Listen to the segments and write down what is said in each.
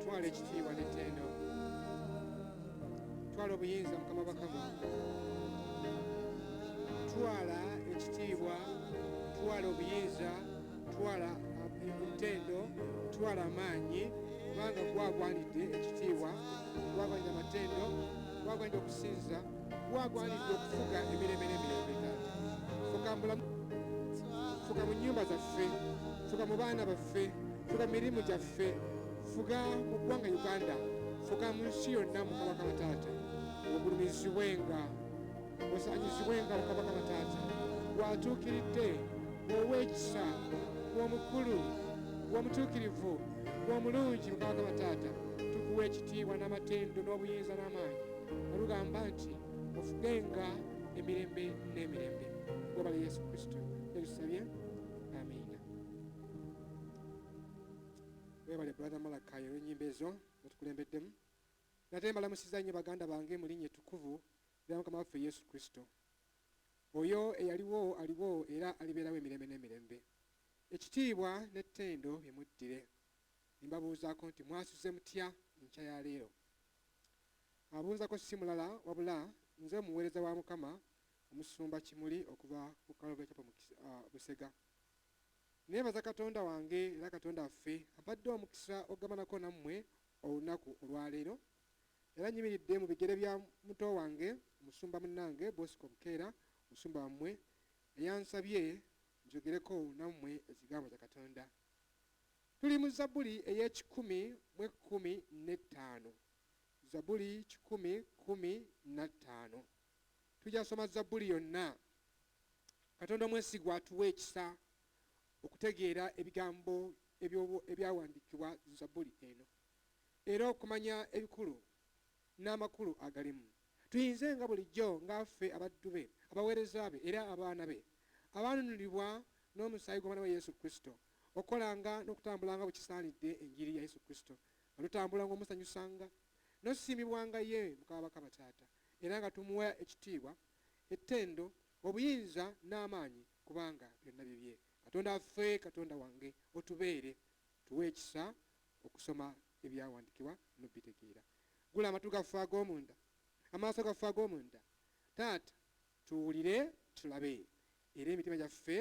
twala ekitiibwa n'ettendo twala obuyinza mukama bakama twala ekitiibwa twala obuyinza twala entendo twala amaanyi kubanga gwagwanidde ekitiibwa gwagwanidde amatendo gwagwanidde okusinza gwagwanidde okufuga emirembe n'emirembe taata fuka mubulamu fuka mu nnyumba zaffe fuka mu baana baffe fuka mu mirimu gyaffe ffe fuga mu ggwanga uganda fuga mu nsi yonna mukabaka bataata ogulumizibwenga osanyizibwenga mukabaka bataata gwatuukiridde ow'ekisa w'omukulu w'omutuukirivu w'omulungi mukabaka bataata tukuwa ekitiibwa n'amatendo n'obuyinza n'amaanyi olugamba nti ofugenga emirembe n'emirembe gwobala yesu kristo ebisabye webale brother malakai olwenyimba ezo zatukulembeddemu nate mbalamusiza nnyo baganda bange mu linnya ettukuvu lya mukama waffe yesu kristo oyo eyaliwo aliwo era alibeerawo emirembe n'emirembe ekitiibwa n'ettendo bimuddire nembabuuzaako nti mwasuze mutya enkya ya leero abuuzako si mulala wabula nze omuweereza wa mukama omusumba kimuli okuva ku kalobekyapo uh, busega Neebaza Katonda wange era Katonda waffe ampadde omukisa okugabanako nammwe olunaku olwaleero, era nyimiridde mu bigere bya muto wange omusumba munnange Bosco Bukeera, omusumba wammwe, eyansabye njogereko nammwe ekigambo kya Katonda. Tuli mu Zabuli ey'ekikumi mu ekkumi n'ettaano. Zabuli kikumi kkumi na ttaano. tukyasoma zabbuli yonna katonda omwesigwa atuwa ekisa okutegeera ebigambo ebyawandiikibwa zabbuli eno era okumanya ebikulu n'amakulu agalimu tuyinze nga bulijjo ng'affe abaddu be abaweereza be era abaana be abaanunulibwa n'omusaayi gw'omwana wa yesu kristo okukolanga n'okutambulanga bwe kisaanidde enjiri ya yesu kristo nga tutambula ng'omusanyusanga n'osiimibwanga ye mukama bakama taata era nga tumuwa ekitiibwa, ettendo, obuyinza n'amaanyi kubanga byonna bibye. Katonda waffe, Katonda wange otubeere, tuwe ekisa okusoma ebyawandikibwa n'obbitegeera. Ggula amatu gaffe ag'omunda, amaaso gaffe ag'omunda Taata tuwulire, tulabe era emitima gyaffe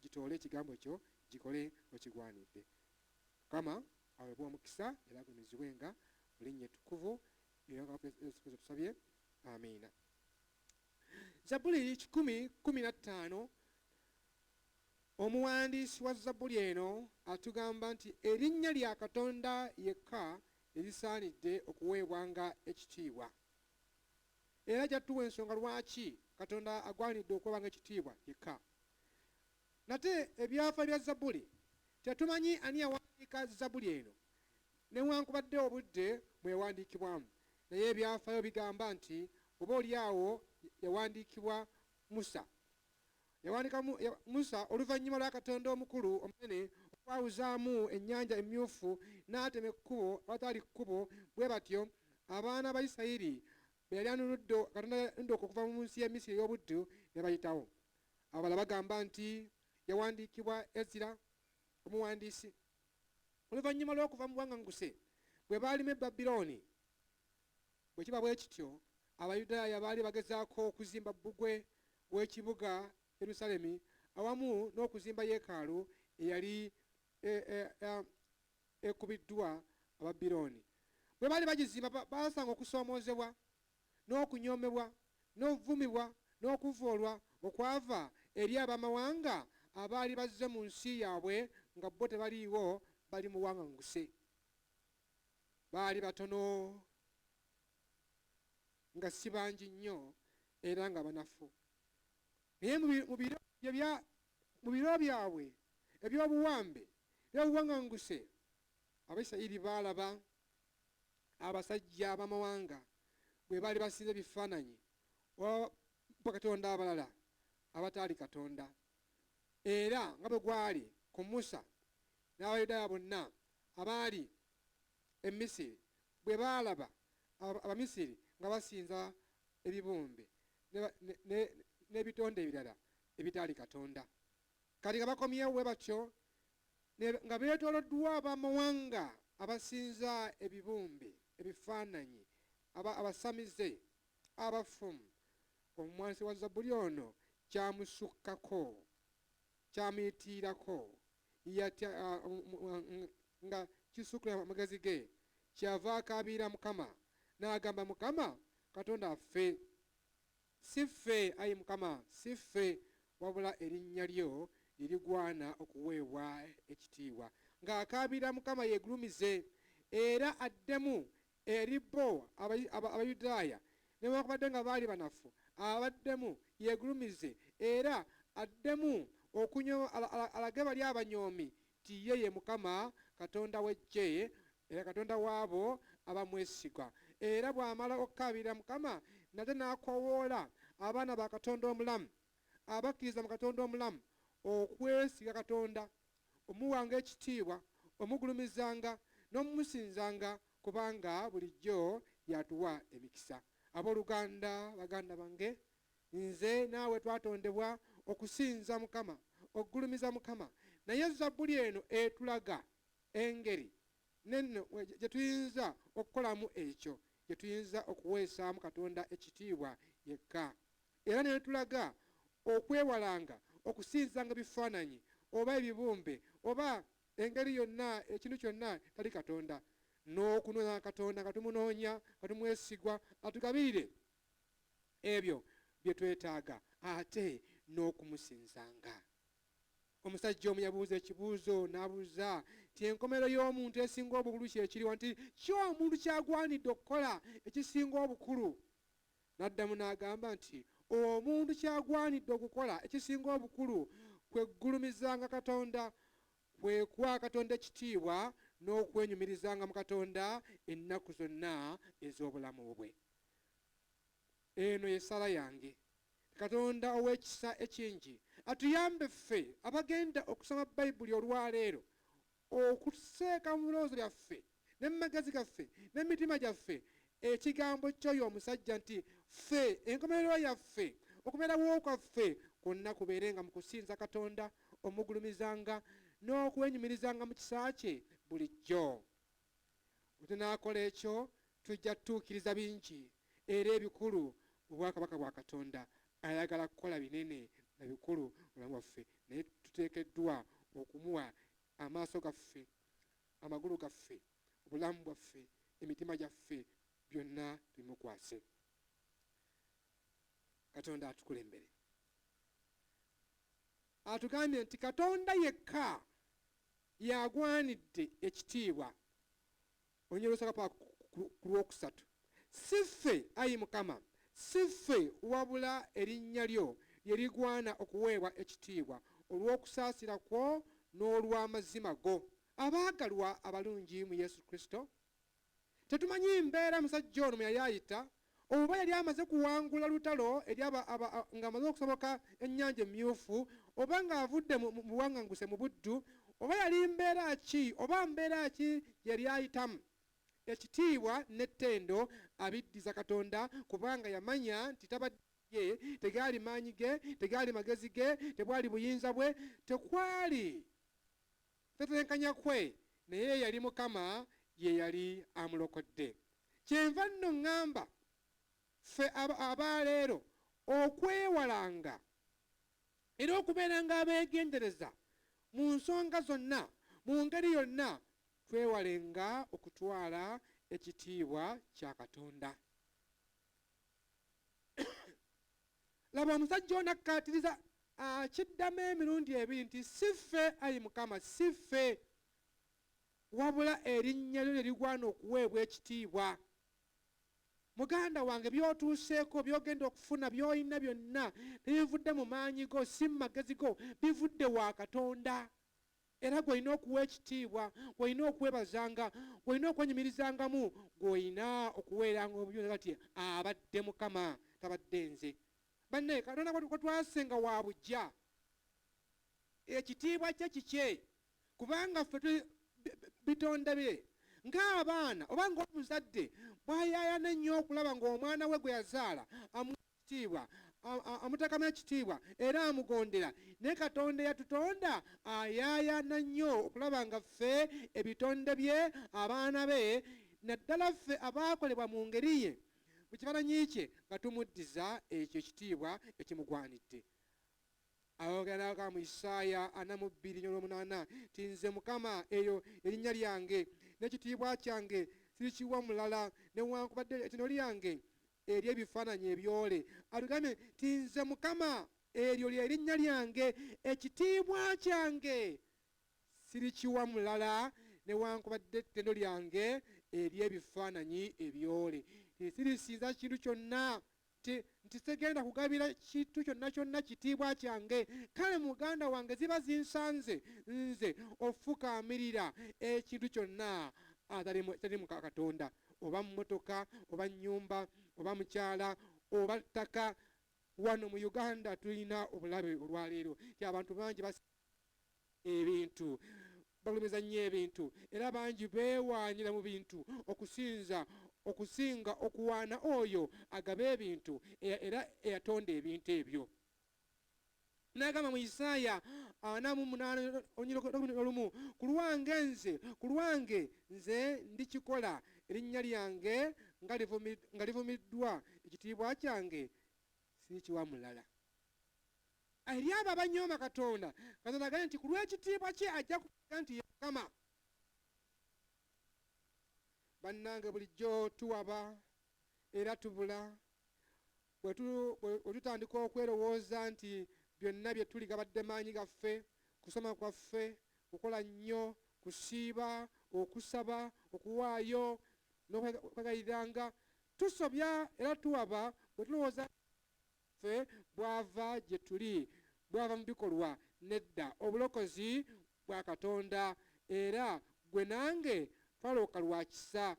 gitoole ekigambo kyo gikole okigwanidde. Mukama awebwe omukisa era agumizibwe nga mu linnya ettukuvu era mukama waffe yesu kristo tusabye amiina zabbuli kikumi kumi na ttaano omuwandiisi wa zabbuli eno atugamba nti erinnya lya katonda yekka erisaanidde okuweebwanga ekitiibwa era jattuwa ensonga lwaki katonda agwanidde okuweebwanga ekitiibwa yekka nate ebyafa bya zabbuli tetumanyi ani yawandiika zabbuli eno Newankubadde obudde mwe yawandiikibwamu, naye ebyafaayo bigamba nti oba oli awo yawandiikibwa Musa. Yawandiika mu, ya, Musa oluvannyuma lwa Katonda omukulu omunene okwawuzaamu ennyanja emmyufu n'atema ekkubo awataali kkubo, bwe batyo abaana ba Isirayiri be yali anunudde, Katonda yanunudde okuva mu nsi y'e Misiri ey'obuddu ne bayitawo. Abalala bagamba nti yawandiikibwa Ezira omuwandiisi. oluvannyuma lw'okuva mu buwaŋŋanguse bwe baalima e Babilooni? Bwe kiba bwe kityo, Abayudaaya baali bagezaako okuzimba bbugwe w'ekibuga Yerusaalemi awamu n'okuzimba yeekaalu eyali e, e, e, ekubiddwa Ababilooni. Bwe baali bagizimba, baasanga okusoomoozebwa n'okunyoomebwa, n'okuvumibwa, n'okuvvoolwa okwava eri ab'amawanga abaali bazze mu nsi yaabwe nga bo tebaliiwo, bali mu buwaŋŋanguse. Baali batono, nga si bangi nnyo, era nga banafu. Naye mu, mu biro ebya, mu biro byabwe eby'obuwambe, eby'obuwaŋŋanguse, Abayisirayiri baalaba abasajja ab'amawanga bwe baali basinza ebifaananyi oba bakatonda abalala abataali Katonda. Era nga bwe gwali ku Musa, n'Abayudaaya bonna abaali e Misiri bwe baalaba Abamisiri nga basinza ebibumbe n'ebitonde ebirala ebitaali Katonda, kati nga bakomyewo bwe batyo ne, nga beetooloddwa ab'amawanga abasinza ebibumbe, ebifaananyi, aba, abasamize, abafumu. Omuwansi wa zabbuli ono kyamusukkako, kyamuyitiirako, yatya nga kisukkiridde amagezi ge, kyeyava akaabirira Mukama, n'agamba, Mukama Katonda affe! Si ffe, ayi Mukama, si ffe, wabula erinnya lyo lye ligwana okuweebwa ekitiibwa. Nga akaabira, Mukama yeegulumize era addemu eri bo, aba, Abayudaaya, newaakubadde nga baali banafu, abaddemu, yeegulumize era addemu okunyo, alage bali abanyoomi nti ye ye Mukama Katonda w'eggye, era Katonda w'abo abamwesigwa, era bw'amala okukaabirira Mukama nate n'akoowoola abaana ba Katonda omulamu, abakkiriza mu Katonda omulamu, okwesiga Katonda, omuwanga ekitiibwa, omugulumizanga, n'omumusinzanga, kubanga bulijjo y'atuwa emikisa. Ab'oluganda, baganda bange, Nze naawe twatondebwa okusinza Mukama, okugulumiza Mukama. Naye Zabbuli eno etulaga engeri nenno gye tuyinza okukolamu ekyo, gye tuyinza okuweesaamu Katonda ekitiibwa yekka. Era n'etulaga okwewalanga okusinzanga ebifaananyi, oba ebibumbe, oba engeri yonna, ekintu kyonna etali Katonda, n'okunoonya Katonda nga tumunoonya, nga tumwesigwa atugabirire ebyo bye twetaaga ate n'okumusinzanga. Omusajja omu yabuuza ekibuuzo n'abuuza nti enkomerero y'omuntu esinga obukulu kye kiriwa nti ki omuntu ky'agwanidde okukola ekisinga obukulu? N'addamu n'agamba nti omuntu ky'agwanidde okukola ekisinga obukulu kwe kugulumizanga Katonda, kwe kuwa Katonda ekitiibwa n'okwenyumirizanga mu Katonda ennaku zonna ez'obulamu bwe. Eno y'essaala yange. Katonda ow'ekisa ekingi atuyambe ffe abagenda okusoma Bayibuli olwa leero okuteeka mu birowoozo byaffe ne mu magezi gaffe ne mu mitima gyaffe ekigambo ky'oyo omusajja nti, Ffe enkomerero yaffe, okubeerawo kwaffe kwonna kubeere nga mu kusinza Katonda, omugulumizanga n'okwenyumirizanga mu kisa kye bulijjo. Bwe tunaakola ekyo, Tujja kutuukiriza bingi era ebikulu mu bwakabaka bwa Katonda. Ayagala kukola binene na bikulu mu bulamu bwaffe, naye tuteekeddwa okumuwa amaaso gaffe, amagulu gaffe, obulamu bwaffe, emitima gyaffe, byonna tubimukwase. Katonda atukulembere. Atugambye nti Katonda yekka y'agwanidde ekitiibwa. Olunyiriri olusooka pa ku lwokusatu. Si ffe, ayi Mukama, si ffe, wabula erinnya lyo lye ligwana okuweebwa ekitiibwa olw'okusaasira kwo n'olw'amazima go. Abaagalwa abalungi mu Yesu Kristo, tetumanyi mbeera musajja ono mwe yali ayita Oba yali amaze kuwangula lutalo eri aba, aba, a, nga amaze okusoboka Ennyanja Emmyufu, oba nga avudde mu, mu buwaŋŋanguse, mu buddu, oba yali mbeera ki oba mbeera ki gye yali ayitamu, ekitiibwa n'ettendo abiddiza Katonda, kubanga yamanya nti tabadde ye, tegaali maanyi ge, tegaali magezi ge, tebwali buyinza bwe, tekwali. Tetenkanya kwe naye eyali Mukama yeyali amulokodde. Kyenva nno ngamba ffe abaleero okwewalanga era okubeeranga abegendereza mu nsonga zonna mu ngeri yonna twewalenga okutwala ekitiibwa kya Katonda. Laba omusajja ono akkaatiriza akiddamu emirundi ebiri nti si ffe ayi mukama si ffe wabula erinnya lyo lye ligwana okuweebwa ekitiibwa muganda wange byotuuseeko byogenda okufuna byolina byonna tebivudde mu maanyi go si mu magezi go bivudde wa katonda Era gw'olina okuwa ekitiibwa, gw'olina okwebazanga, gw'olina okwenyumirizangamu, gw'olina okuweeranga obuyonjo kati, Abadde Mukama, tabadde nze. Bannage, Katonda gwe twase nga wa buggya, ekitiibwa kye kikye, kubanga ffe tuli bitonde bye. Nga abaana, oba nga omuzadde bw'ayaayana ennyo okulaba nga omwana we gwe yazaala amuwa kitiibwa, amuteekamu ekitiibwa era amugondera. Naye Katonda eyatutonda ayaayaana nnyo okulaba nga ffe, ebitonde bye, abaana be, naddala ffe abaakolebwa mu ngeri ye, mu kifaananyi kye, nga tumuddiza ekyo ekitiibwa ekimugwanidde. Ayogerako mu Isaaya ana mu bbiri enyolwomunaana nti, Nze Mukama, eryo lye linnya lyange, n'ekitiibwa kyange sirikiwa mulala, newankubadde ettendo lyange eri ebifaananyi ebyole, atugambye nti, Nze Mukama, eryo lye linnya lyange, ekitiibwa kyange sirikiwa mulala, newankubadde ettendo lyange eri ebifaananyi ebyole, nti sirisinza kintu kyonna, nti, nti sigenda kugabira kintu kyonna kyonna kitiibwa kyange, kale muganda wange ziba zinsanze nze okufukaamirira ekintu kyonna atali mu, ekitali mu Katonda. oba mmotoka oba nnyumba oba mukyala oba ttaka wano mu uganda tulina obulabe olwaleero nti abantu bangi bas ebintu bagulumiza nnyo ebintu era bangi beewaanira mu bintu okusinza okusinga okuwaana oyo agaba ebintu era eyatonda ebintu ebyo n'agamba mu isaaya ana mu munaana olumu ku lwange nze ku lwange nze ndikikola erinnya lyange nga livumiddwa ekitiibwa kyange sirikiwa mulala eri abo abanyooma katonda katonda agambye nti ku lw'ekitiibwa kye ajja kuga nti yamukama bannange bulijjo tuwaba era tubula Bwe tutandika okwerowooza nti byonna bye tuli gabadde maanyi gaffe, kusoma kwaffe, kukola nnyo, kusiiba, okusaba, okuwaayo, n'okwegayiriranga, tusobya era tuwaba bwe tulowooza nti bwaffe bwava gye tuli, bwava mu bikolwa. Nedda, obulokozi bwa Katonda, era ggwe nange twalooka lwa kisa.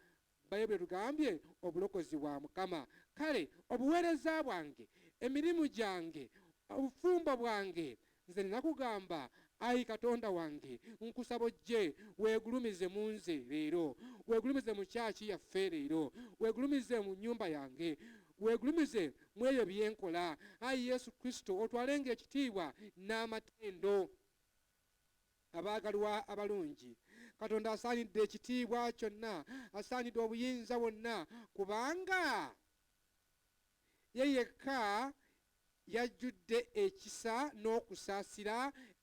Baibuli etugambye obulokozi bwa Mukama. Kale obuweereza bwange, emirimu gyange, obufumbo bwange, nze nnina kugamba, Ayi Katonda wange, nkusaba ojje weegulumize mu nze leero. Weegulumize mu kyaki yaffe leero. Weegulumize mu nnyumba yange. Weegulumize mu ebyo bye nkola. Ayi Yesu Kristo, otwalenga ekitiibwa n'amatendo. Abaagalwa abalungi, Katonda asaanidde ekitiibwa kyonna, asaanidde obuyinza bwonna, kubanga Ye yekka y'ajjudde ekisa n'okusaasira,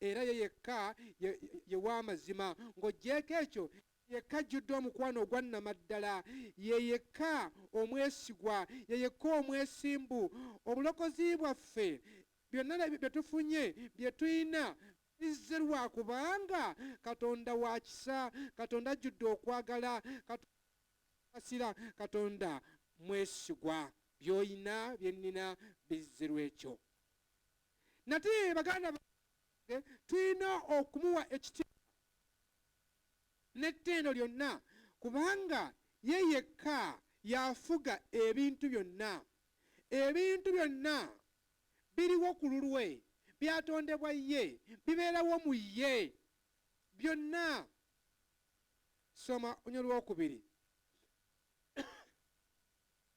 era Ye yekka ye, ye w'amazima. Ng'oggyeeko ekyo, Ye yekka ajjudde omukwano ogwa nnamaddala, Ye yekka omwesigwa, Ye yekka omwesimbu. Obulokozi bwaffe Byonna ebyo bye tufunye, bye tulina, bizze lwa kubanga Katonda wa kisa, Katonda ajjudde okwagala, Katonda saasira, Katonda mwesigwa. By'olina, bye nnina, bizze lw'ekyo. Nate baganda bange, tulina okumuwa ekitiibwa n'ettendo lyonna kubanga ye yekka y'afuga ebintu byonna. Ebintu byonna biriwo ku lulwe, byatondebwa ye, bibeerawo mu ye, byonna. Soma ony olwokubiri.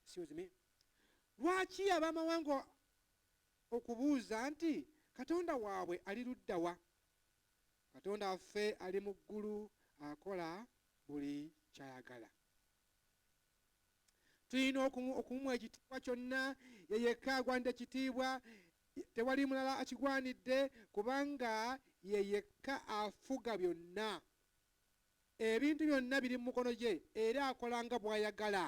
Excuse me. Lwaki ab'amawanga okubuuza nti Katonda waabwe ali ludda wa? Katonda waffe ali mu ggulu akola buli ky'ayagala. tulina okumumwa ekitiibwa kyonna ye yekka agwanidde ekitiibwa tewali mulala akigwanidde kubanga ye yekka afuga byonna ebintu byonna biri mu mukono gye era akola nga bw'ayagala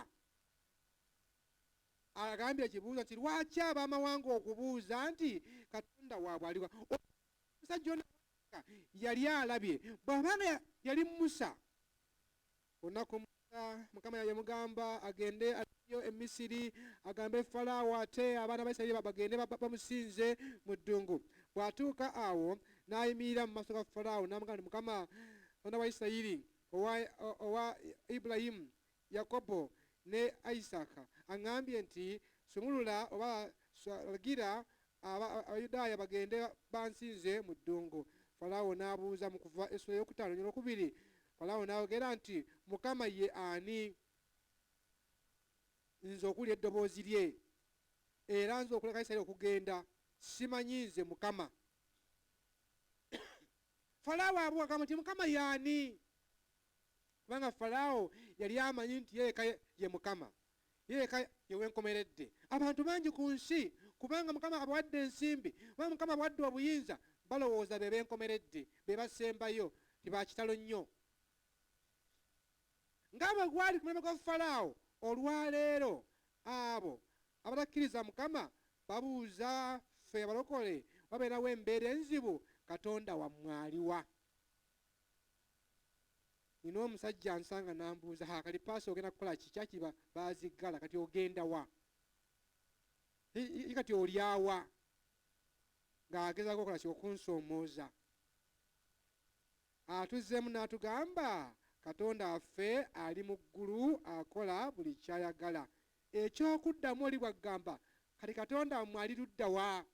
agambye ekibuuzo nti lwaki ab'amawanga okubuuza nti katonda waabwe aliwa omusajja yali alabye bw'abanga yali musa Olunaku Musa Mukama yayamugamba agende ayo e Misiri agambe Falaawo ate abaana ba Isirayiri bagende bamusinze mu ddungu. Bw'atuuka awo n'ayimirira mu maaso ga Falaawo n'amugamba nti, Mukama Katonda wa Isirayiri owa, owa Ibulayimu, Yakobo ne Isaaka aŋŋambye nti sumulula oba lagira Abayudaaya bagende bansinze mu ddungu. Falaawo n'abuuza mu Kuva essula ey'okutaano n'okubiri Falaawo n'ayogera nti, Mukama ye ani, nze okuwulira eddoboozi lye, era nze okuleka Isirayiri okugenda? Simanyi nze Mukama. Falaawo abuuka agamba nti, Mukama ye ani? Kubanga Falaawo yali amanyi nti ye yekka ye Mukama. Ye yekka ye wenkomeredde. Abantu bangi ku nsi, kubanga Mukama abawadde ensimbi, kubanga Mukama abawadde obuyinza, balowooza be benkomeredde, be basembayo, nti ba kitalo nnyo. Nga bwe gwali ku mulembe gwa Falaawo, olwa leero abo abatakkiriza Mukama babuuza, Ffe abalokole, wabeerawo embeera enzibu, Katonda wammwe aliwa? nina omusajja ansanga nambuuza ha kati paasa ogenda kukola ki kyaki baziggala kati ogenda wa i kati olyawa ng'agezaako okola ki okunsoomooza atuzzeemu n'atugamba katonda affe ali mu ggulu akola buli kyayagala ekyokuddamu oli bwaggamba kati katonda mmwe ali luddawa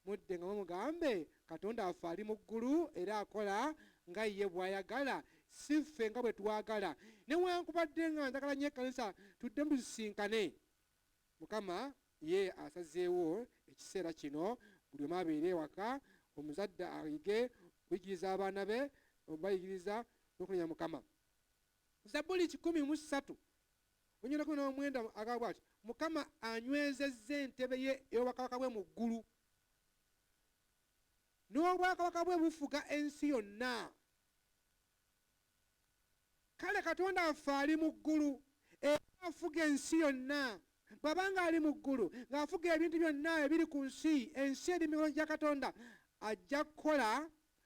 Muddengamu mugambe Katonda waffe ali mu ggulu era akola nga ye bw'ayagala si ffe nga bwe twagala. Newankubadde nga njagala nnyo ekkanisa tuddemu tusisinkane, Mukama ye asazeewo ekiseera kino buli omu abeere ewaka, omuzadde ayige okuyigiriza abaana be, okubayigiriza n'okunenya Mukama. Zabbuli kikumi mu ssatu Onyoleko n'omwenda agaba bw'ati, Mukama anywezezza entebe ye ey'obwakabaka bwe mu ggulu, n'obwakabaka bwe bufuga ensi yonna. Kale Katonda waffe ali mu ggulu era afuga ensi yonna. Bw'aba ng'ali mu ggulu, ng'afuga ebintu byonna ebiri ku nsi, ensi eri mu mikono gya Katonda, ajja kukola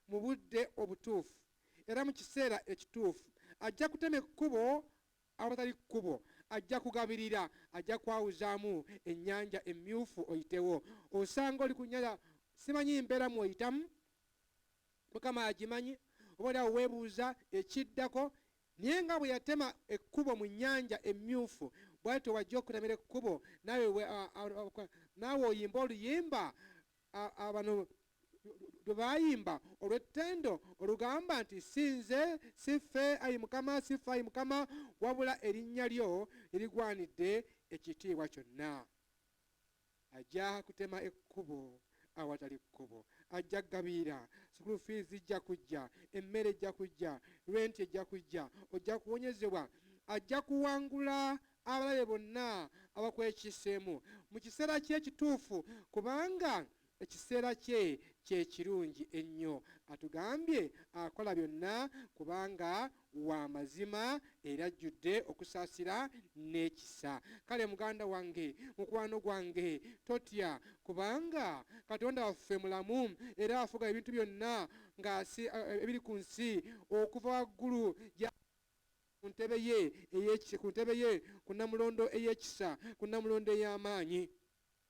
mu budde obutuufu era mu kiseera ekituufu. Ajja kutema ekkubo awatali kkubo, ajja kugabirira, ajja kwawuzaamu ennyanja emmyufu oyitewo. Osanga oli ku nnyanja, simanyi mbeera mw'oyitamu, Mukama y'agimanyi, oba oli awo weebuuza ekiddako, naye nga bwe yatema ekkubo mu nnyanja emmyufu, bw'atyo bw'ajja okukutemera ekkubo, naawe naawe oyimbe oluyimba, a, a, bano lwe baayimba olw'ettendo olugamba nti si nze si ffe ayi mukama si ffe ayi mukama wabula erinnya lyo erigwanidde ekitiibwa kyonna ajja kutema ekkubo awatali kkubo ajja kugabirira sukulu fiizi zijja kujja emmere ejja kujja renti ejja kujja ojja kuwonyezebwa ajja kuwangula abalabe bonna abakwekiseemu mu kiseera kye ekituufu kubanga Ekiseera kye kye kirungi ennyo. Atugambye akola byonna kubanga wa mazima era ajjudde okusaasira n'ekisa. Kale muganda wange, mukwano gwange, totya kubanga Katonda waffe mulamu era afuga ebintu byonna ng'asi, ebiri ku nsi okuva waggulu gya ku ntebe ye ey'ekisa, ku ntebe ye, ku Nnamulondo ey'ekisa, ku Nnamulondo ey'amaanyi.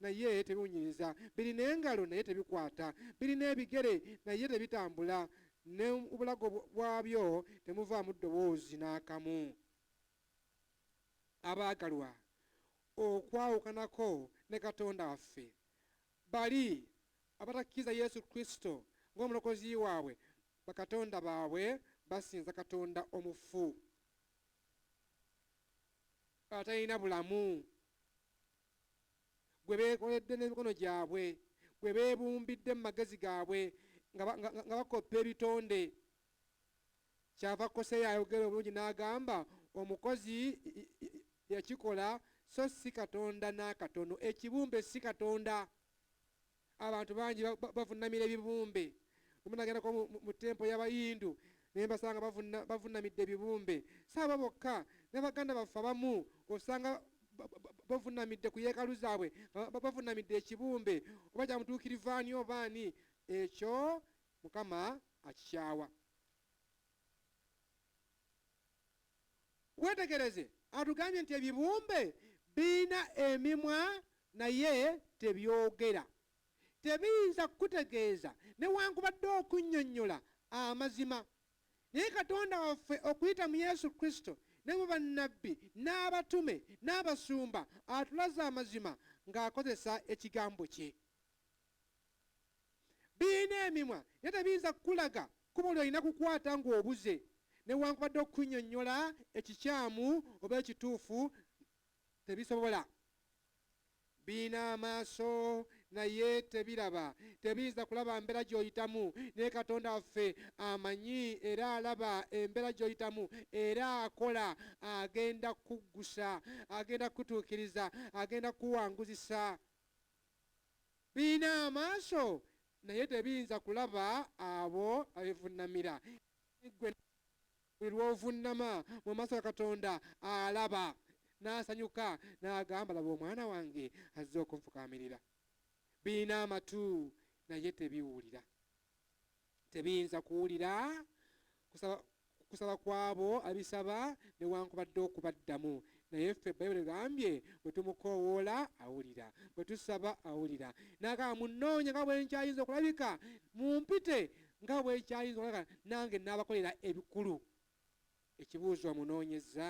naye tebiwunyiriza, birina engalo naye tebikwata, birina ebigere naye tebitambula, ne mu bulago bwabyo temuvaamu ddoboozi n'akamu. Abaagalwa, okwawukanako ne Katonda waffe, bali abatakkiriza Yesu Kristo ng'Omulokozi waabwe, bakatonda baabwe basinza katonda omufu, atalina bulamu. gwe beekoledde n'emikono gyabwe, gwe beebumbidde mu magezi gaabwe nga bakoppa ebitonde. Kyava Koseya ayogera obulungi n'agamba, Omukozi yakikola so si Katonda n'akatono. Ekibumbe si Katonda. Abantu bangi bavunnamira ebibumbe. Lumu nagendako mu tempo y'Abayindu ne mbasanga bavunnamidde ebibumbe. Si abo bokka, ne baganda baffe abamu osanga bavunnamidde ku yeekalu zaabwe, nga bavunnamidde ekibumbe, oba kya mutuukirivu ani oba ani. Ekyo Mukama akikyawa. Weetegereze, atugambye nti ebibumbe birina emimwa naye tebyogera. Tebiyinza kukutegeeza newankubadde okunnyonnyola amazima. Naye Katonda waffe okuyita mu Yesu Kristo ne mu bannabbi n'abatume n'abasumba atulaze amazima ng'akozesa Ekigambo kye. Birina emimwa naye tebiyinza kukulaga kkubo ly'olina kukwata ng'obuze, newankubadde okukunnyonnyola ekikyamu oba ekituufu tebisobola. Birina amaaso naye tebiraba, tebiyinza kulaba mbeera gy'oyitamu, naye Katonda waffe amanyi era alaba embeera gy'oyitamu era akola, agenda kukuggusa, agenda kukutuukiriza, agenda kukuwanguzisa. Birina amaaso, naye tebiyinza kulaba abo abivunnamira. Naye ggwe buli lw'ovunnama mu maaso ga Katonda, alaba, n'asanyuka, n'agamba, Laba omwana wange azze okunfukaamirira. Birina amatu, naye tebiwulira. Tebiyinza kuwulira kusaba kusaba kw'abo abisaba newankubadde okubaddamu. Naye ffe Bayibuli egambye bwe tumukoowoola awulira, bwe tusaba awulira. N'agamba, Munnoonya nga bwe nkyayinza okulabika, mumpite nga bwe kyayinza okulabika, nange nnaabakolera ebikulu. Ekibuuzo, omunoonyezza?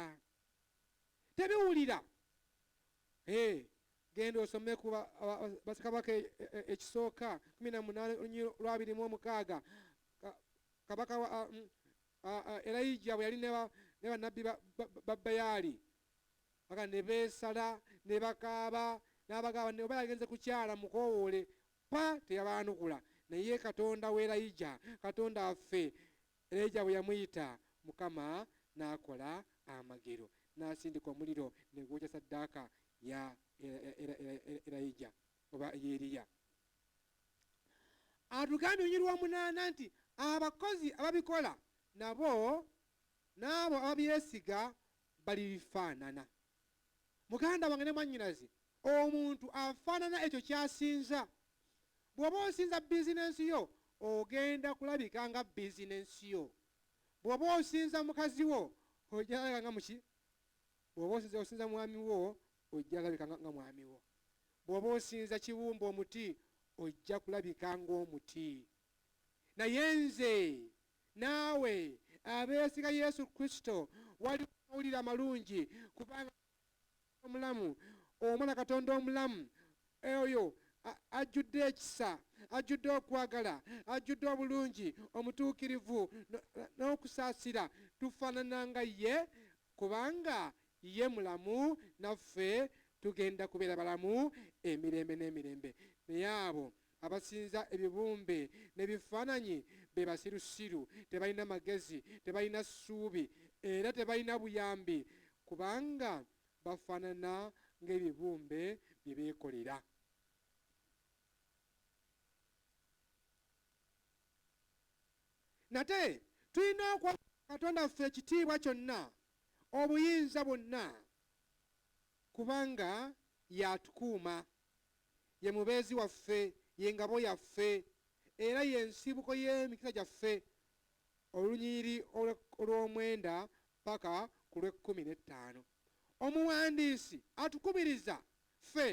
Tebiwulira Hey, genda osome ku Basekabaka ekisooka kumi na munaana olunyiri lwabiri mu omukaaga kabaka mm, Elijah bwe yali ne bannabbi ba Bayaali aga ne beesala ne bakaaba n'abagamba ne oba yagenze kukyala mukoowoole pa teyabaanukula naye katonda wa Elijah katonda affe Erija bwe yamuyita, Mukama n'akola amagero, n'asindika omuliro ne gwokya ssaddaaka ya Erija, oba ey'Eriya. Atugambye mu lunyiriri lw'omunaana nti, Abakozi ababikola nabo n'abo ababyesiga balibifaanana. Muganda wange ne mwannyinaze, omuntu afaanana ekyo ky'asinza. Bw'oba osinza bizinensi yo, ogenda kulabika nga bizinensi yo. Bw'oba osinza mukazi wo, ojja kulabika nga muki? Bw'oba osinza mwami wo, ojja kulabika nga mwami wo. Bw'oba osinza kibumba omuti, ojja kulabika ng'omuti. naye nze naawe abeesiga Yesu Kristo waliwo amawulire amalungi kubanga omulamu omwana Katonda omulamu oyo ajjudde ekisa ajjudde okwagala ajjudde obulungi omutuukirivu n'okusaasira tufaanana nga ye kubanga ye mulamu naffe tugenda kubeera balamu emirembe n'emirembe naye abo Abasinza ebibumbe ne bifaananyi be basirusiru, tebalina magezi, tebalina ssuubi, era tebalina buyambi, kubanga bafaanana ng'ebibumbe bye beekolera. Nate tulina okwa Katonda waffe ekitiibwa kyonna, obuyinza bwonna, kubanga y'atukuuma. Ye mubeezi waffe, ye ngabo yaffe, era ye nsibuko y'emikisa gyaffe, olunyiriri olw'omwenda paka ku lw'ekkumi n'ettaano. Omuwandiisi atukubiriza ffe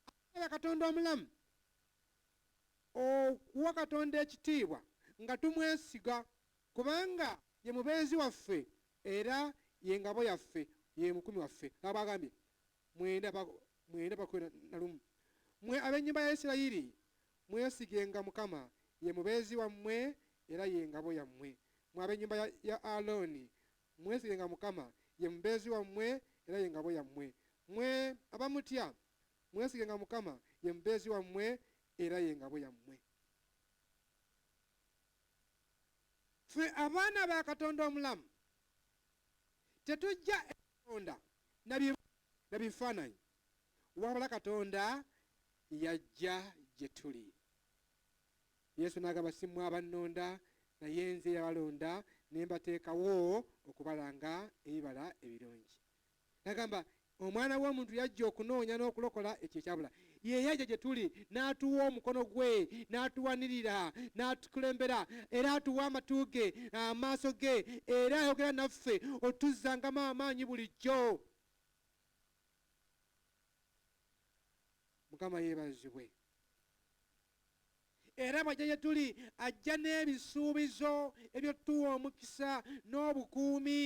abaagala Katonda omulamu okuwa Katonda ekitiibwa nga tumwesiga, kubanga ye mubeezi waffe era ye ngabo yaffe, ye mukumi waffe, nga bw'agambye, mwenda mwenda bakwena na lumu mwe ab'ennyumba ya isirayiri mwesigenga mukama ye mubeezi wammwe era ye ngabo yammwe mwe ab'ennyumba ya, ya alooni mwesigenga mukama ye mubeezi wammwe era ye ngabo yammwe mwe abamutya mwesigenga mukama ye mubeezi wammwe era ye ngabo yammwe ffe abaana ba katonda omulamu tetujja katonda na bifaananyi wabula katonda yajja gye tuli yesu n'agamba si mwe abannonda naye nze yabalonda ne mbateekawo okubalanga ebibala ebirungi nagamba omwana w'omuntu yajja okunoonya n'okulokola ekyo ekyabula Ye yajja gye tuli n'atuwa omukono gwe, n'atuwanirira, n'atukulembera, era atuwa amatu ge, amaaso ge, era ayogera naffe otuzzangamu amaanyi bulijjo. Mukama yeebazibwe. Era bw'ajja gye tuli ajja n'ebisuubizo eby'otuwa omukisa n'obukuumi.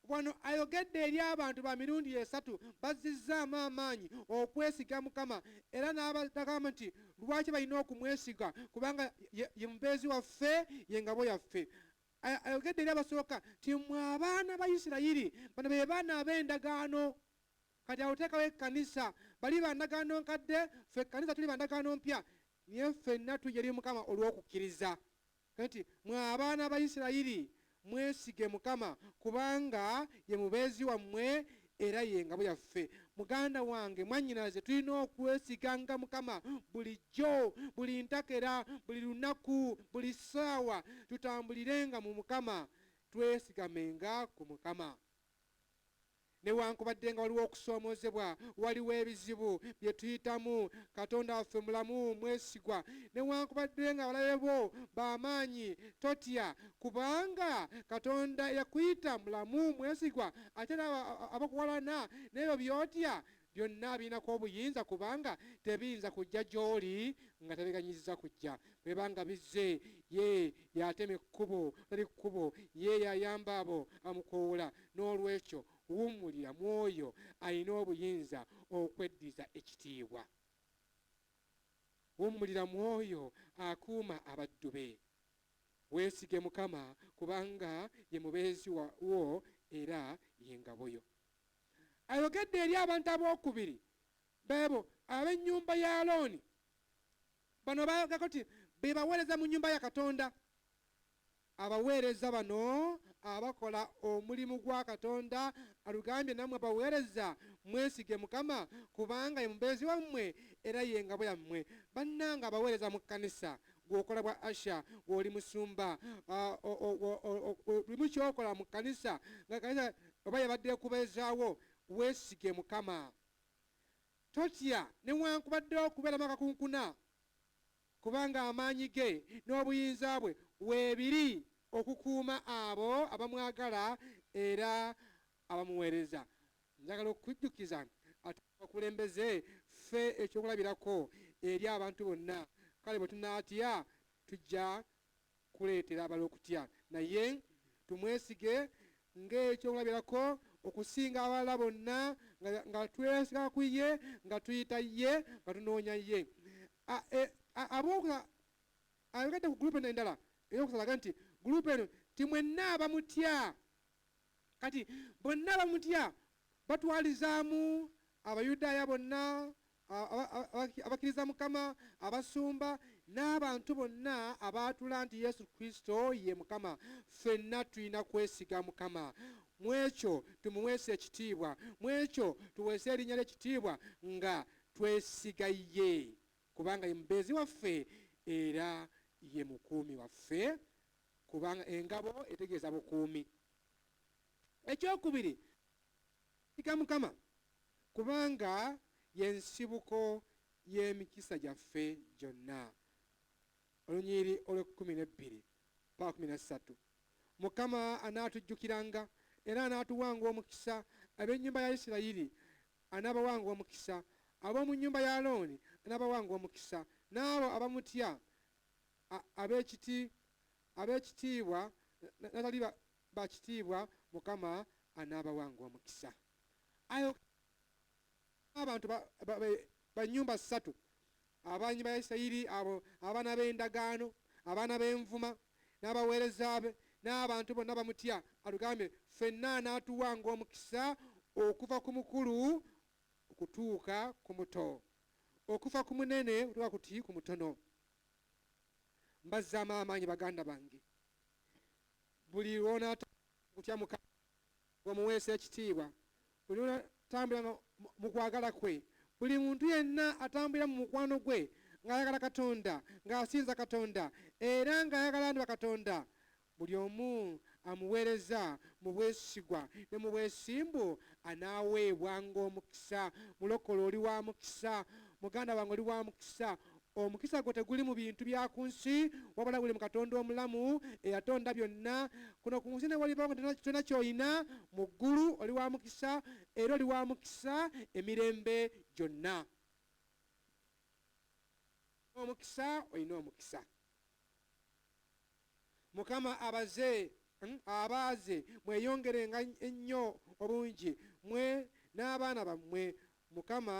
Wano ayogedde eri abantu ba mirundi esatu bazzizzaamu amaanyi okwesiga Mukama era n'abadagamba nti lwaki balina okumwesiga kubanga ye, ye mubeezi waffe, ye ngabo yaffe. Ayogedde eri abasooka nti mmwe abaana ba Isirayiri, bano be baana ab'endagaano. Kati awo teekawo ekkanisa, bali ba ndagaano nkadde, ffe ekkanisa tuli ba ndagaano mpya, naye ffenna tujja eri Mukama olw'okukkiriza. Kati, mmwe abaana ba Isirayiri, mwesige Mukama, kubanga Ye Mubeezi wammwe era Ye ngabo yaffe. Muganda wange, mwannyinaze, tulina okwesiganga Mukama bulijjo, buli ntakera, buli lunaku, buli ssaawa. Tutambulirenga mu Mukama. Twesigamenga ku Mukama. Newankubadde nga waliwo okusoomoozebwa, waliwo ebizibu bye tuyitamu, Katonda waffe mulamu, mwesigwa. Newankubadde nga abalabe bo ba maanyi, totya, kubanga Katonda eyakuyita mulamu, mwesigwa, ate era abakuwalana n'ebyo by'otya. Byonna abirinako obuyinza kubanga tebiyinza kujja gy'oli nga tabiganyizza kujja. Bwe biba nga bizze, ye y'atema ekkubo atali kkubo, ye y'ayamba abo abamukoowoola. N'olwekyo wummulira mu oyo alina obuyinza okweddiza ekitiibwa. Wummulira mu oyo akuuma abaddu be. Weesige Mukama kubanga ye mubeezi wo era ye ngabo yo. ayogedde eri abantu ab'okubiri, beebo ab'ennyumba ya Alooni. Bano baagako nti be baweereza mu nnyumba ya Katonda. Abaweereza bano abakola omulimu gwa Katonda alugambye nammwe baweereza mwesige Mukama kubanga ye mubeezi wammwe era ye ngabo yammwe. Bannange abaweereza mu kkanisa gwokola bwa asha gwoli musumba limu kyokola mu kanisa nga kanisa oba yabadde ekubeezaawo weesige mukama totya newankubadde okubeeramu akakunkuna kubanga amaanyi ge n'obuyinza bwe weebiri okukuuma abo abamwagala era abamuweereza. Njagala okukujjukiza ate abakulembeze ffe ekyokulabirako eri abantu bonna. Kale bwe tunaatya, tujja kuleetera abalala okutya. Naye tumwesige ng'ekyokulabirako okusinga abalala bonna, nga twesiga ku ye, nga tuyita ye, nga tunoonya ye. E, Abooka ayogedde ku gulupu endala ey'okusalaga nti gulupu eno timwenna abamutya Kati bonna bamutya, batwalizaamu Abayudaaya bonna abakkiriza Mukama, abasumba, n'abantu bonna abaatula nti Yesu Kristo ye Mukama. Ffenna tulina kwesiga Mukama. Mu ekyo tumuweesa ekitiibwa. Mu ekyo tuweesa erinnya lye ekitiibwa nga twesiga ye, kubanga ye mubeezi waffe era ye mukuumi waffe. Kubanga engabo etegeeza bukuumi. Eky'okubiri, Yiga Mukama, kubanga ye nsibuko y'emikisa gyaffe gyonna. Olunyiriri olw'ekkumi n'ebbiri mpaka kkumi na ssatu. Mukama anaatujjukiranga era anaatuwanga omukisa, ab'ennyumba ya Isirayiri anaabawanga omukisa, ab'omu nnyumba ya Alooni anaabawanga omukisa, n'abo abamutya ab'ekitiibwa n'abatali ba kitiibwa, Mukama anaabawanga omukisa. Ayo abantu ba nnyumba ssatu abannyumba ya Isirayiri, abo abaana b'endagaano, abaana b'envuma, n'abaweereza be, n'abantu bonna abamutya, atugambye ffenna anaatuwanga omukisa okuva ku mukulu okutuuka ku muto, okuva ku munene okutuuka ku mutono. Mbazzaamu amaanyi baganda bange. Buli lw'onaatambula ng'otya Mukama, ng'omuweesa ekitiibwa, buli lw'onaatambula nga mu kwagala kwe, buli muntu yenna atambulira mu mukwano gwe ng'ayagala Katonda, ng'asinza Katonda, era ng'ayagala abantu ba Katonda, Buli omu amuweereza mu bwesigwa ne mu bwesimbu anaaweebwa nga omukisa. Mulokole oli wa mukisa. Muganda wange oli wa mukisa. Omukisa gwo teguli mu bintu bya ku nsi, wabula guli mu Katonda omulamu eyatonda byonna. Kuno ku nsi newalibawo nga tolina tolina ky'olina, mu ggulu oli wa mukisa era oli wa mukisa emirembe gyonna. Olina omukisa, olina omukisa. Mukama abaze mm, abaaze mweyongerenga ennyo obungi mwe n'abaana bammwe Mukama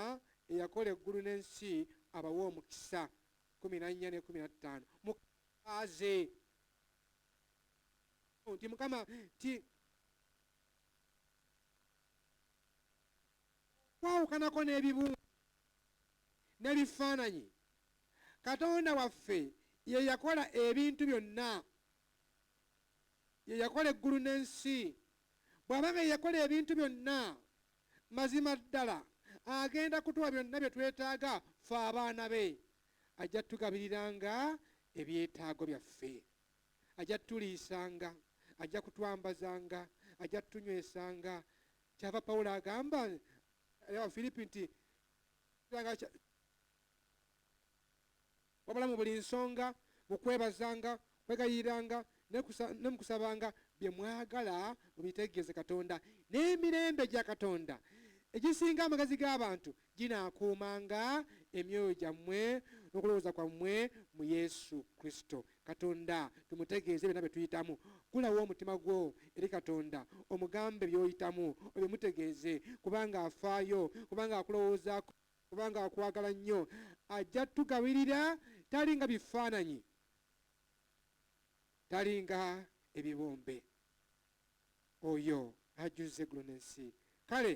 eyakola eggulu n'ensi abawe omukisa kumi na nnya n'ekumi na ttaano mukaaze nti mukama nti Okwawukanako n'ebibumbe n'ebifaananyi, Katonda waffe ye yakola ebintu byonna. Ye yakola eggulu n'ensi. Bw'aba nga ye yakola ebintu byonna, mazima ddala agenda kutuwa byonna bye twetaaga ffe abaana be. Ajja tugabiriranga ebyetaago byaffe. Ajja tuliisanga. Ajja kutwambazanga. Ajja tunywesanga. kyava pawulo agamba abafiripi nti wabula mu buli nsonga mu kwebazanga kwegayiranga ne mukusabanga bye mwagala mubitegeeze katonda n'emirembe gya katonda egisinga amagazi g'abantu ginaakuumanga emyoyo gyammwe n'okulowooza kwammwe mu Yesu Kristo. Katonda tumutegeeze byonna bye tuyitamu. Ggulawo omutima gwo eri Katonda, omugambe by'oyitamu, obimutegeeze, kubanga afaayo, kubanga akulowoozaako, kubanga akwagala nnyo. Ajja tugabirira, talinga bifaananyi, talinga ebibumbe. Oyo ajjuzza eggulu n'ensi. Kale.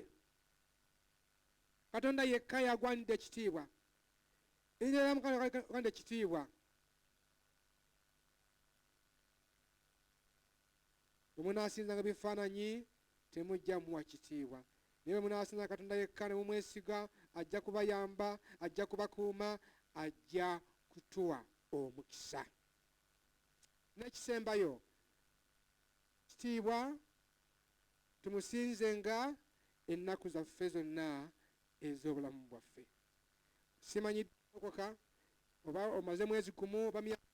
Katonda yekka y'agwanidde ekitiibwa. Erinnya lya Mukama lye ligwanidde ekitiibwa. Bwe munaasinzanga ebifaananyi temujja muwa kitiibwa. Naye bwe munaasinza Katonda yekka ne mumwesiga, ajja kubayamba, ajja kubakuuma, ajja kutuwa omukisa. N'ekisembayo, kitiibwa Tumusinzenga ennaku zaffe zonna ez'obulamu bwaffe. Simanyi ddi walokoka, oba omaze mwezi gumu oba myaka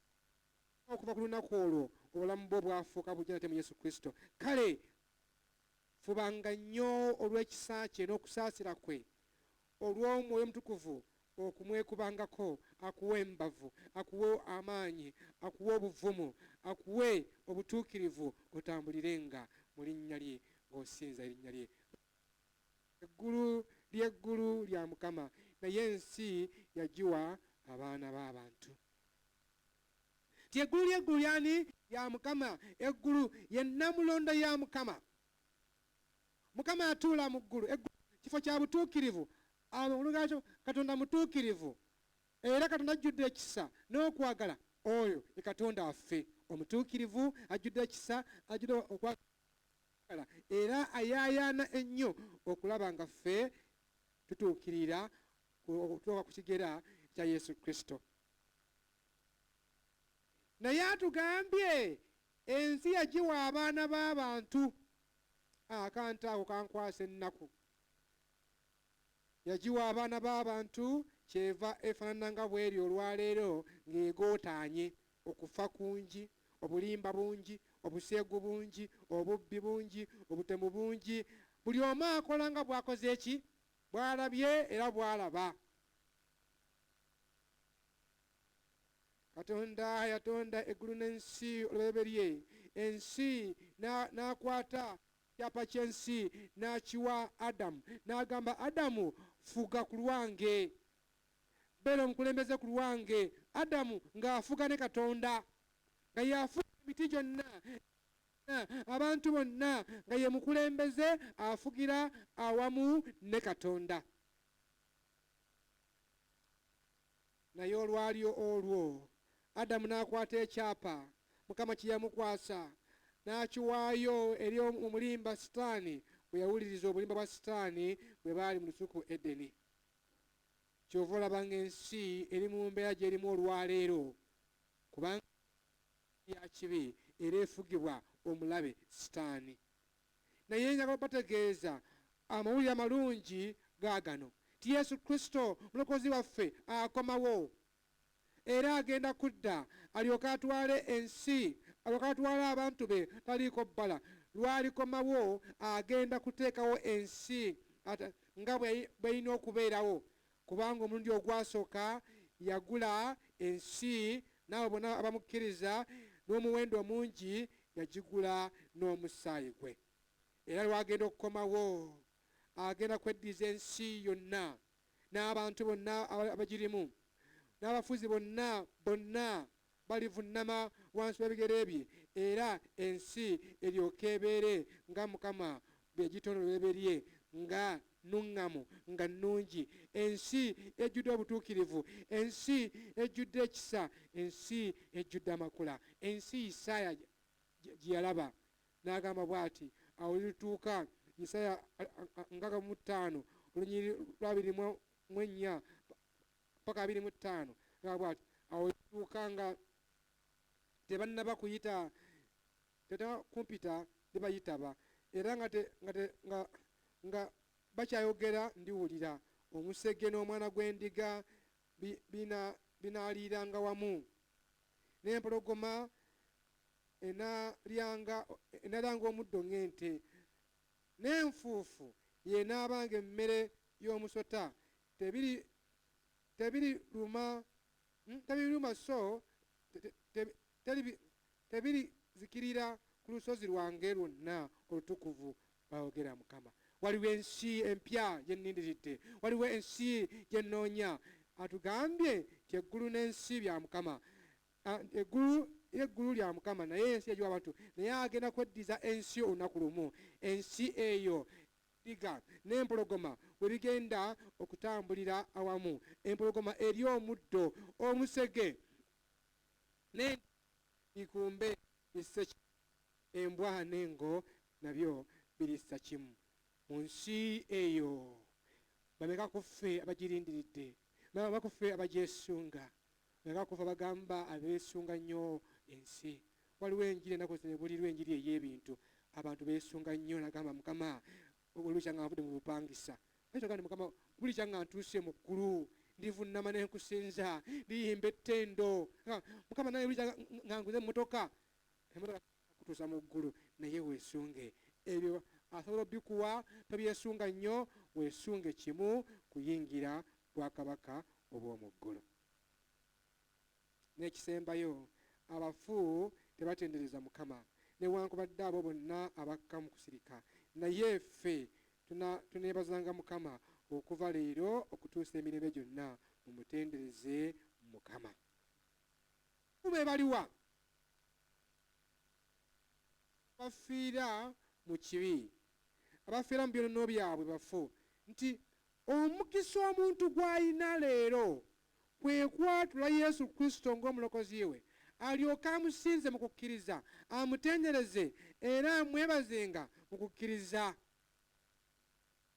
okuva ku lunaku olwo obulamu bwo bwafuuka bujja nate mu Yesu Kristo. Kale fubanga nnyo olw'ekisa kye n'okusaasira kwe olw'Omwoyo Omutukuvu okumwekubangako, akuwe embavu, akuwe amaanyi, akuwe obuvumu, akuwe obutuukirivu, otambulirenga mu Linnya Lye, nga osinza Erinnya Lye. Eggulu ly'eggulu lya Mukama, naye ensi yagiwa abaana b'abantu. Nti eggulu ly'eggulu ly'ani? Lya Mukama. Eggulu ye nnamulondo ya Mukama. Mukama atuula mu ggulu, eggulu kifo kya butuukirivu, amakulu gaakyo Katonda mutuukirivu era Katonda ajjudde ekisa n'okwagala. Oyo ye Katonda waffe omutuukirivu, ajjudde ekisa, ajjudde okwagala era ayaayaana ennyo okulaba nga ffe tutuukirira okutuuka ku kigera ekya Yesu Kristo. naye atugambye ensi yagiwa abaana b'abantu akantu ako kankwasa ennaku yagiwa abaana b'abantu kyeva efaanana nga bweri olwaleero ng'egootaanye okufa kungi obulimba bungi obuseegu bungi obubbi bungi obutemu bungi buli omu akola nga bwakoze eki bwalabye era bwalaba katonda yatonda eggulu n'ensi olubereberye ensi n'akwata kyapa ky'ensi n'akiwa adamu n'agamba adamu fuga ku lwange beera omukulembeze ku lwange adamu ng'afuga ne katonda nga yafuga emiti gyonna abantu bonna nga ye mukulembeze afugira awamu ne katonda Naye olwali olwo Adamu n'akwata ekyapa Mukama kye yamukwasa, n'akiwaayo eri omulimba Sitaani, bwe yawuliriza obulimba bwa Sitaani bwe baali mu lusuku Edeni. Ky'ova olaba ng'ensi eri mu mbeera gy'erimu olwaleero, kubanga ya kibi era efugibwa omulabe Sitaani. Naye njagala obategeeza amawulire amalungi gaagano, nti Yesu Kristo Mulokozi waffe akomawo, era agenda kudda alyoke atwale ensi, alyoke atwale abantu be taliiko bbala. Lw'alikomawo, agenda kuteekawo ensi nga bw'erina okubeerawo, Kubanga omulundi ogwasooka yagula ensi n'abo bonna abamukkiriza n'omuwendo omungi, yagigula n'omusaayi gwe. Era lw'agenda okukomawo, agenda kweddiza ensi yonna n'abantu bonna abagirimu, n'abafuzi bonna, bonna Balivunnama wansi w'ebigere bye, era ensi eryoke ebeere nga Mukama bwe yagitonda olubereberye, nga nnuŋŋamu, nga nnungi, ensi ejjudde obutuukirivu, ensi ejjudde ekisa, ensi ejjudde amakula, ensi Isaaya gye yalaba n'agamba bw'ati, Awo olulituuka, Isaaya nkaaga mu ttaano, olunyiriri lw'abiri mu ennya, mpaka abiri mu ttaano nga bwati awo tuuka nga tebannaba kuyita teta kumpita tebayitaba era nga nga nga bakyayogera ndiwulira omusege n'omwana gw'endiga binaaliiranga wamu n'empologoma enalyanga omuddo ng'ente n'enfuufu y'enaabanga emmere y'omusota tebiri tebiri luma hmm, tebiri luma so tebiri zikirira ku lusozi lwange lwonna olutukuvu bawogera mukama waliwo ensi empya gyennindiridde waliwo ensi gyennoonya atugambye nti eggulu n'ensi bya mukama ah, eggulu eggulu lya mukama naye ensi yagiwa abantu naye agenda kweddiza ensi olunaku lumu ensi eyo Endiga n'empologoma bwe bigenda okutambulira awamu, empologoma erya omuddo, omusege n'endiga bikumbe bisse kimu, embwa n'engo nabyo birissa kimu. Mu nsi eyo, bameka ku ffe abagirindiridde? Bameka ku ffe abagyesunga? Naye bakuva bagamba abesunga nnyo ensi waliwo enjiri enaku zino ebulirwa enjiri eyebintu abantu besunga nnyo nagamba mukama oluja nga nvude mubupangisa aitogandi mukama bulija nga ntuuse mu ggulu ndivunama nenkusinza ndiyimba ettendo mukama naye bulija nga nguze emotoka emotoka kutuusa mu ggulu naye wesunge ebyo asobola obikuwa tobyesunga nnyo wesunge kimu kuyingira bwakabaka obw'omu ggulu. N'ekisembayo, abafu tebatendereza Mukama, newankubadde abo bonna abakka mu kusirika. Naye ffe tuneebazanga Mukama okuva leero okutuusa emirembe gyonna, mumutendereze Mukama. Bo be baliwa? Abafiira mu kibi, abafiira mu byonoono byabwe bafu, nti Omukisa omuntu gw'alina leero kwe kwatula Yesu Kristo ng'Omulokozi we, alyoke amusinze mu kukkiriza, amutendereze, era amwebazenga mu kukkiriza.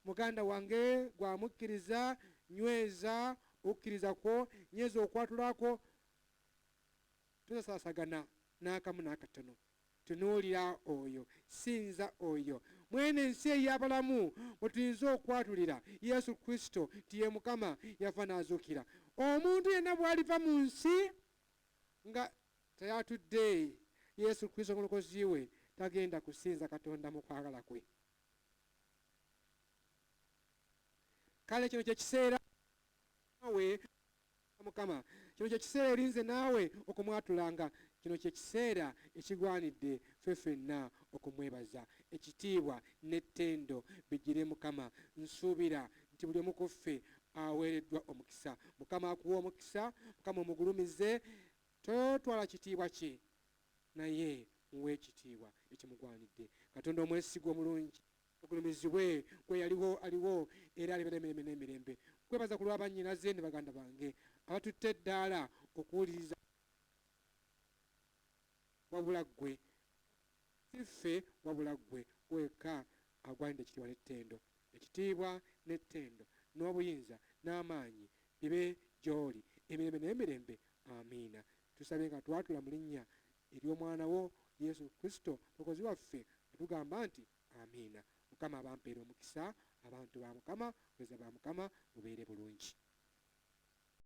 Muganda wange gwe amukkiriza, nyweza okukkiriza kwo, nyweza okwatula kwo, tosasaasagana n'akamu n'akatono. Tunuulira oyo, sinza oyo. Mw'eno ensi ey'abalamu mwe tuyinza okwatulira Yesu Kristo nti ye Mukama, yafa n'azuukira. Omuntu yenna bw'aliva mu nsi nga tayatudde Yesu Kristo ng'Omulokozi we, tagenda kusinza Katonda mu kwagala kwe. Kale kino kye kiseera we mukama kino kyekiseera eri nze naawe okumwatulanga kino kyekiseera ekigwanidde fe fenna okumwebaza ekitiibwa nettendo bijire mukama nsuubira nti buli omu kuffe aweereddwa omukisa mukama akuwe omukisa mukama omugulumize totwala kitiibwa kye naye muwe ekitiibwa ekimugwanidde katonda omwesigwa omulungi Mugulumizibwe gwe yaliwo, aliwo, era alibeera emirembe n'emirembe. Nkwebaza ku lwa bannyinaze ne baganda bange abatutte eddaala okuwuliriza wabula Ggwe, si ffe, wabula Ggwe, Ggwe wekka agwanidde ekitiibwa n'ettendo. Ekitiibwa n'ettendo, n'obuyinza, n'amaanyi, bibe gy'Oli, emirembe n'emirembe. Amiina. Tusabye nga twatula mu Linnya Ery'Omwana Wo, Yesu Kristo, Mulokozi waffe, nga tugamba nti. Amiina mukama abampeere omukisa abantu ba mukama bweza ba mukama mubeere bulungi.